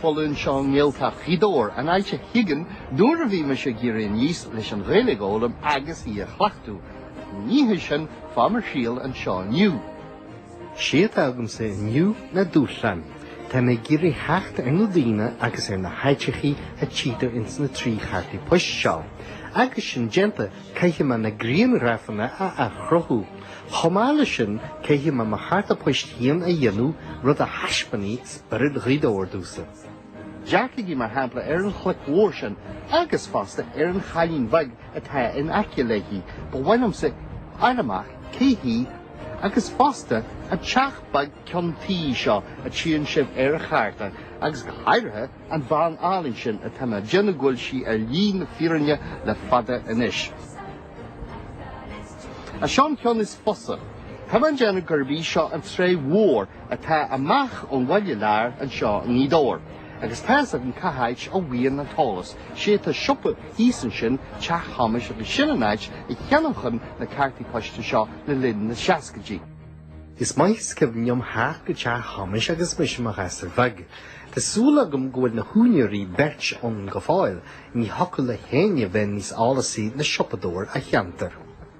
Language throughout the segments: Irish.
foluain seo i nGaeltacht Ghaoth Dobhair, an áit a thiginn nuair a bhí mise ag éirí aníos leis an Ghaeilge a fhoghlaim agus í a chleachtadh. Ní hé sin fáth mo thriall anseo inniu. Sé atá agamsa inniu ná dúshlán. Táim ag iarraidh theacht ar na daoine agus ar na háiteachaí a tchítear ins na trí chártaí poist seo. Agus sin déanta, caithfidh mé na grianghrafanna a athchruthú. Chomh maith le sin, caithfidh mé mo chárta poist féin a dhéanamh, rud a thaispeánfaidh Oiread Ghaoth Dobhair domhsa. Dearcaigí mar shampla ar an chloic mhór sin agus fosta ar an chailín bheag atá in aice léi, ba mhaith liomsa fháil amach cé hí agus fosta an teach beag ceann tuí seo a tchíonn sibh ar a chárta agus go háirithe an bhean álainn sin atá mé déanamh go bhfuil sí ar shlí na fírinne le fada anois. Ach seo an ceann is fusa. Tá mé déanamh gurb í seo an tráigh mhór atá amach ón bhaile láir anseo i nGaoth Dobhair, agus tá's agam cá háit a bhíonn an t-eolas, sé tá siopa thíos ansin, Teach Thomáis, agus sin an áit a cheannóchainn na cártaí poist seo le linn na seascaidí. Is maith is cuimhin liom theacht go Teach Thomáis agus mise mo ghasúr bheag. Tá súil agam go bhfuil na húinéirí beirt ann go fóill, ní thiocfadh le héinne bheith níos eolasaí ná siopadóir an cheantair.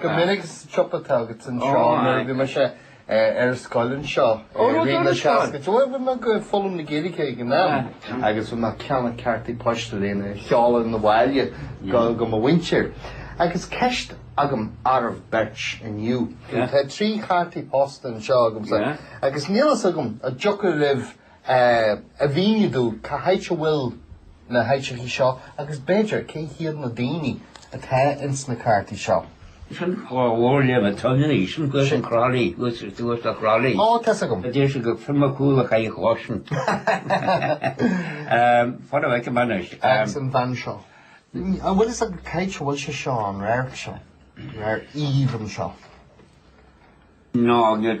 Go minic ins an tsiopa atá agat anseo nuair a bhí mise ar an scoil anseo i rith na seascaidí. Bhuel bhí mé ag foghlaim na Gaeilge ag an am agus bhí mé ag ceannacht cártaí poist lena seoladh 'na bhaile go mo mhuintir. Agus ceist agam oraibh beirt inniu. Tá trí chártaí poist anseo agamsa agus níl fhios agam an dtiocfadh libh a mhíniú dúinn cá háit a bhfuil na háiteachaí seo agus b'fhéidir cé hiad na daoine atá ins na cártaí seo. Sin dhá bharr le bheith ann anois, thuas i gCroithlí, thuas ar dtús i gCroithlí. Ó, tá's agam. Deir siad gur Fionn Mac Cumhaill a chaith an chloch sin. Fána bheith go anois. Agus an bhean seo. An bhfuil fhios agat cá háit a bhfuil sé seo ann, an radharc seo, an radharc aoibhinn seo? Ná, níl.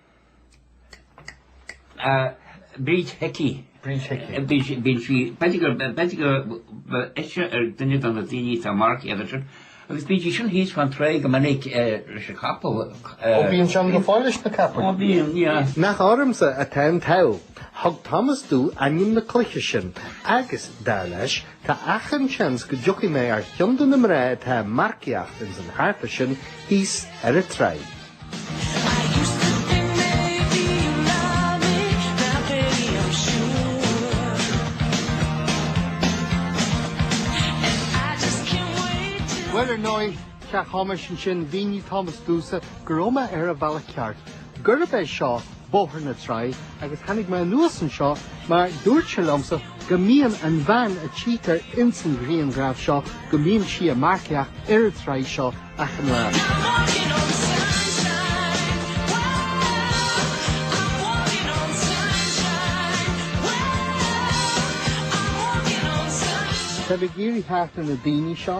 Bríd Hickey. Bríd Hickey. Bhí sí, bhí sí, b'fhéidir gur, b'fhéidir gur ise ar duine de na daoine atá ag marcaíocht. Agus bhí sí sin thíos fán tráigh go minic leis an capall. Ó mbíonn sí ann go fóill leis na capaill? Ó bíonn. Nach ormsa atá an t-ádh. Thug Tomás domh ainm na cloiche sin agus, dar leis, Tá achan seans go dtiocfaidh mé ar cheann de na mná atá ag marcaíocht ins an chárta sin thíos ar a tráigh. Bhuel, ar ndóigh, Cheapfaimis ansin, mhínigh Tomás domhsa go raibh mé ar an bhealach ceart, gurb é seo Bóthar na Traí agus tháinig mé anuas anseo mar dúirt sé liomsa go mbíonn an bhean a tchítear ins an ghrianghraf seo go mbíonn sí a' marcaíocht ar an traí seo achan lá. Tá mé ag iarraidh theacht ar na daoine seo.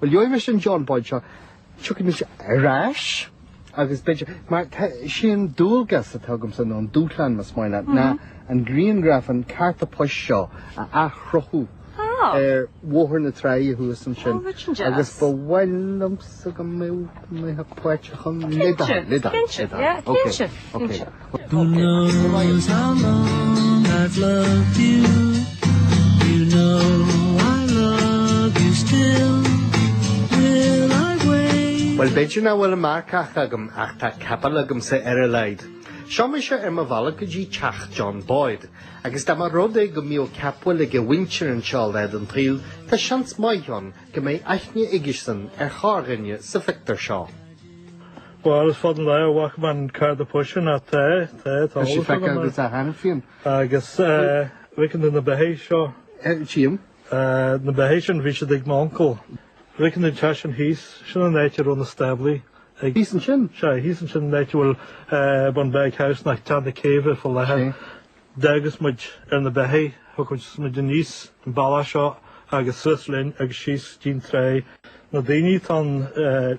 Bhuel, gheobhaidh mise an John Boyd seo, tiocfaidh mise ar ais agus beidh sé. Mar is é an dualgas atá agamsa nó an dúshlán más maith leat ná an grianghraf an carta poist seo a athchruthú ar Bhóthar na Tráighe thuas ansin agus ba mhaith liomsa go mbeadh mé páirteach ann. Cinnte, cinnte, cinnte. Who knows how long I've loved you You know I love you still Will I wait Bhuel b'fhéidir nach bhfuil an marcach agam ach tá capall agamsa ar a laghad. Seo mise ar mo bhealach go dtí teach John Boyd agus dá mba rud é go mbíodh capaill ag a mhuintir anseo lá den tsaol tá seans maith ann go mbeidh aithne aigesan ar chorrdhuine sa phictiúr seo. Bhuel is fada an lá ó chonaic mé an carta poist sin ach tá, tá, tá eolas agam. Tá sí feicthe agat, aithníonn. Agus bhficeann tú na beithidh seo? Tím. Na beithidh sin bhí siad ag m'uncail. Bhficeann tú an teach sin thíos, sin an áit a raibh na stáblaí aige. Thíos ansin? Sea, thíos ansin an áit a bhfuil Bunbeg House nó Teach na Céibhe fá láthair. D'fhaigheadh muid na beithidh, thógadh muid aníos an bealach seo agus suas linn agus síos dtí'n trá. Na daoine tá an,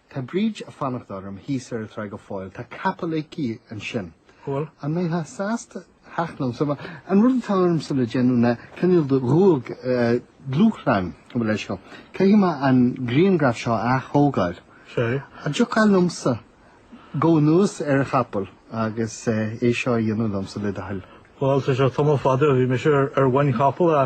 Tá Bríd a' fanacht orm thíos ar a' tráigh go fóill. Tá capall aici ansin. Cool. An mbeitheá sásta theacht liom? So, an rud atá ormsa le déanamh ná cineál de dhúg, dúshlán, go bhfuil, go. Caithfidh mé an grianghraf seo a ath-thógáil. Sure. An dtiocfá liomsa anuas ar a' chapall agus é seo a dhéanamh liomsa le do thoil? Bhuel, tá sé tamall fada ó bhí mise ar mhuin chapall a.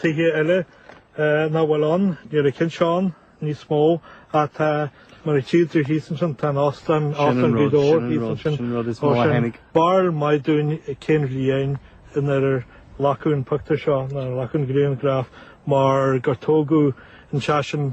Tithe eile nach bhfuil ann, níl a gcinn ann níos mó, ach tá, mar a tchífidh tú thíos ansin, tá an Óstán, Óstán Ghaoth Dobhair thíos ansin, sin barúil mhaith dúinn cén bhliain in ar glacadh an pictiúr seo, nó ar glacadh an grianghraf, mar gur tógadh an t-óstán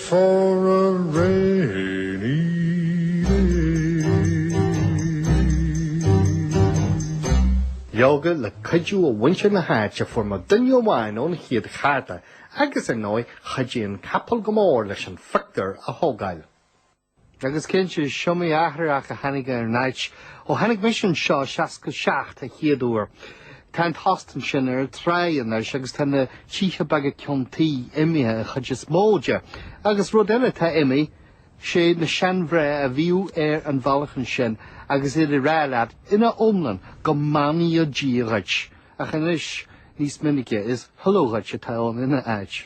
for a rainy Leoga, le cuidiú ó mhuintir na háite fuair mé duine amháin ón chéad charta agus ar ndóigh chuidigh an capall go mór leis an phictiúr a thógáil. Agus cinnte, is iomaí athrach a tháinig ar an áit ó tháinig mise anseo i seasca seacht a' chéad uair. Tá an t-óstán sin ar an tráigh anois agus tá na tithe beaga ceann tuí imithe, an chuid is mó daofa. Agus rud eile atá imithe, 'sé na seandream a bhíodh ar an bhealach ansin agus iad ag rá leat ina iomlán go mbeannaí Dia dhuit, ach anois níos minice is 'Hullo dhuit' atá ann ina áit.